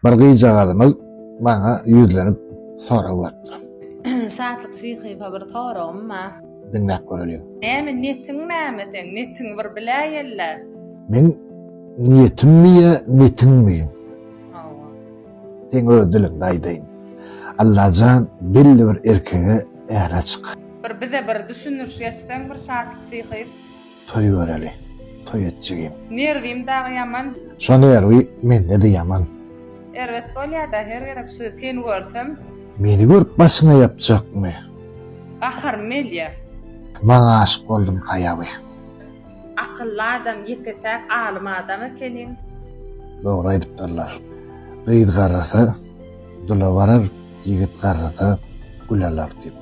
Bir gyzjagazymyz maňa ýüzlenip sorag beripdir. Şatlyk Şyhyýewa bir soragym bar. Diňläp göreliň. Näme netiň näme seň? Netiň bir biläýeli. Meň niýetimmi ýa netiňmi? Hawa. Seň öz diliňde aýdaýyn. Allajan belli bir erkege äre çyk. Bir bize bir düşündiriş geçseň bir Şatlyk Şyhyýew. Toý göreli. Toý etjegim. Nerwim dagy ýaman. Şo nerwi mende-de ýaman. Erbet bolýa-da her gezek şu seni görsem. Meni görüp başyňa ýapjakmy. Gaharym gelýä. Maňa aşyk boldum haýaby. Akylly adam ýeke-täk alym adam ekeniň. Dogry aýdypdyrlar. Gyz garrasa, dula barar, ýigit garrasa, gül alar diýip.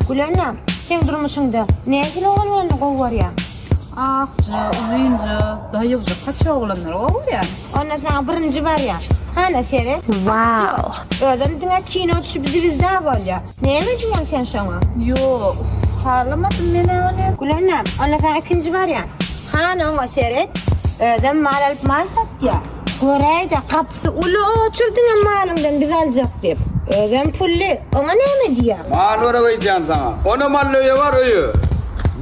Gülena, sen durmuşyňda nähili oglanlarny gowy görýäň? Akja, uzynja, daýywja, kaça oglanlary gowy görýäň? Onda saňa birinji barýan. Hana seret. Wow. Özem diňe kino düşüp zwizda bolýa. Näme diýýäň sen şoňa? Ýok, halamadym men ony. Gülena, onda saňa ikinji barýan. Hana oňa seret. Özem mal alyp mal satýa. Göräýdä, gapysy uly oçurdyňam malyňdan biz aljak diýip. Özem pully. Oňa näme diýýäň? Mal berek öýdýän saňa. Onam mally öýe bar, öýe.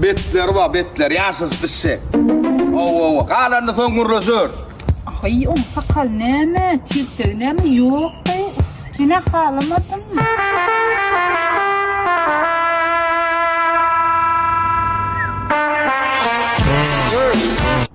Betleri bar, betleri. Ýaşasy pişşek. Hawa-hawa. Galanyny soň gürleşeris. Aý, oň sakaly näme, tirtegi näme? Ýok-da, günä halamadym.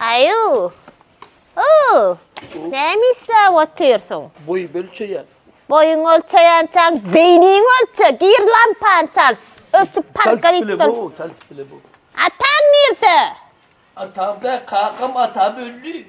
Aýu. Oo. Näme işläp otyrsyň? Boý ölçeýän. Boýuň ölçeýänçäň beýniň ölçe, gir lampany çalş. Ölçüp parka git dur. Çalşyp bile bu. Ataň nirde? Atam da kakam atam öldi.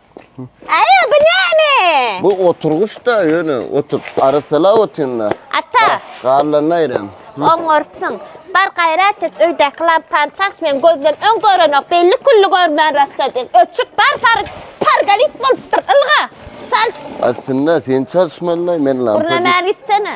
Aýa bu näme? Bu oturgyç da ýöne otup arasala otynda. Ata. Garlanyny aýram. Oňarpsyň. Bar gaýrat et, öýdäki lampany çaç, men gözden öň görenok, belli külli görmän raşadýan. Öçük bar, par, pargalit bolupdyr, ylga, çalş. Aslynda sen çalşmalylaý, men lampa. Gürlemän gitsene.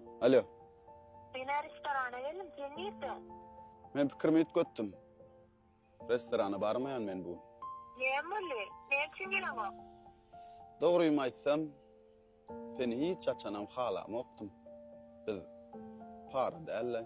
Alo. Men-ä restorana geldim, sen nirdeň? Men pikirimi üýtgetdim. Restorana barmaýan men bu gün. Näme boldy? Näme üçin geleňok? Dogrymy aýtsam, seni hiç haçanam halamokdym. Biz para däl-le.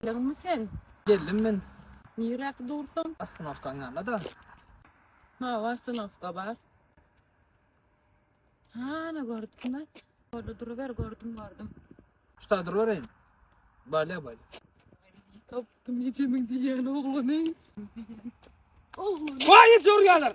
Geldiňmi sen? Geldim men. Niräk dursaň? Ostanowkaň ýanynda-da. Hawa, ostanowka bar. Hana gördüm-ä. Orada duruber, gördüm, gördüm. Şuda durubereýin. Balýa, balýa. Tapdym ejemiň diýýän oglany. Oglany. Waý, ýorýarlar.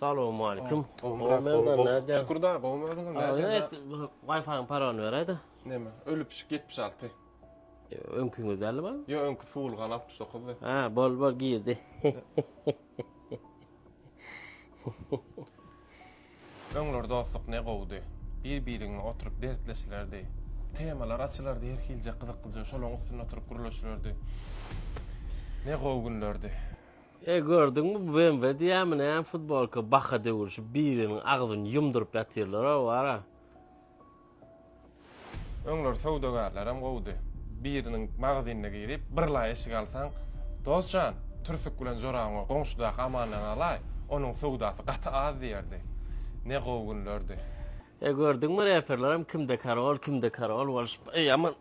Salowmalikim. Şükür da, gowmy özüňem? Wi-Fi-ň parany beräýdä. Näme? Ölüp pişik 76. Öňküňiz däldi bu? Ýok, öňki suwulgan 69-dy. Ha, bol bol girdi. Öňler dostluk ne gowudy. Bir-biriňe oturyp dertleşilerdi. Temalar açylardy her hilje gyzyklyja, şolaryň üstünde oturyp gürleşilerdi. Ne gowy günlerdi. Eý gördüňmi bu BMW diýýämi näme futbolka baka döwülşip biriniň agzyny ýumduryp ýatyrlarow wara. Öňler söwdagärlerem gowudy. Biriniň magazynyna girip bir laý eşik alsaň, Dos jan, türsük bilen jorabyňy goňşudaky Amandan alaý, onuň söwdasy gaty az diýerdi. Ne gowy günlerdi. Eý gördüňmi reperlerem kimde karol, kimde karol bolşup. Eý aman.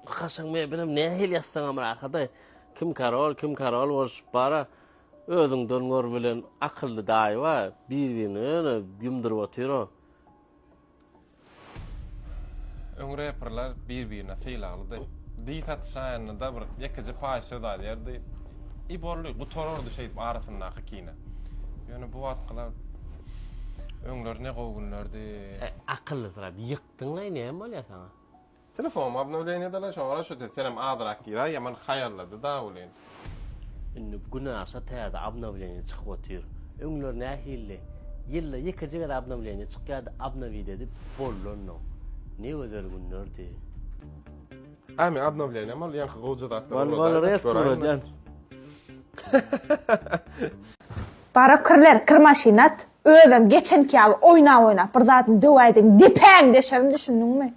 Kaşaň mebelem nähili ýassaňam rahat-aý. Kim karol, kim karol bolşup bar-a. Özüňden gör bilen akylly daýy bar, bir-birini ýöne ýumduryp otyr-a. Öň reperler bir-birine sylaglydy. Diý satyşaýanda-da bir ýekeje paýyş söz aýdardy. I boldy, gutarardy şeýdip arasyndaky kine. Ýöne bu wagtkylar Öňler ne gowy günlerdi. Akyllysyrap ýykdyň-laý näme bolýar saňa? Telefonumy obnowleniýa dala şoňara şo tez senem azyrak gir-a ýaman haýallady-da welin. Indi gün aşa täze obnowleniýa çykyp otyr. Öňler nähildi? Ýylda ýekeje gezek obnowleniýa çykýardy obnowit edip bollanok. Ne gözel günlerdi. Ämi obnowleniýam ol ýaňky gowja zatlar ulazaýda göräýmeli. Bara kirler kir maşynat özem geçenki ýaly oýnap oýnap bir zadyny döwäýdiň depäňi deşerin düşündiňmi.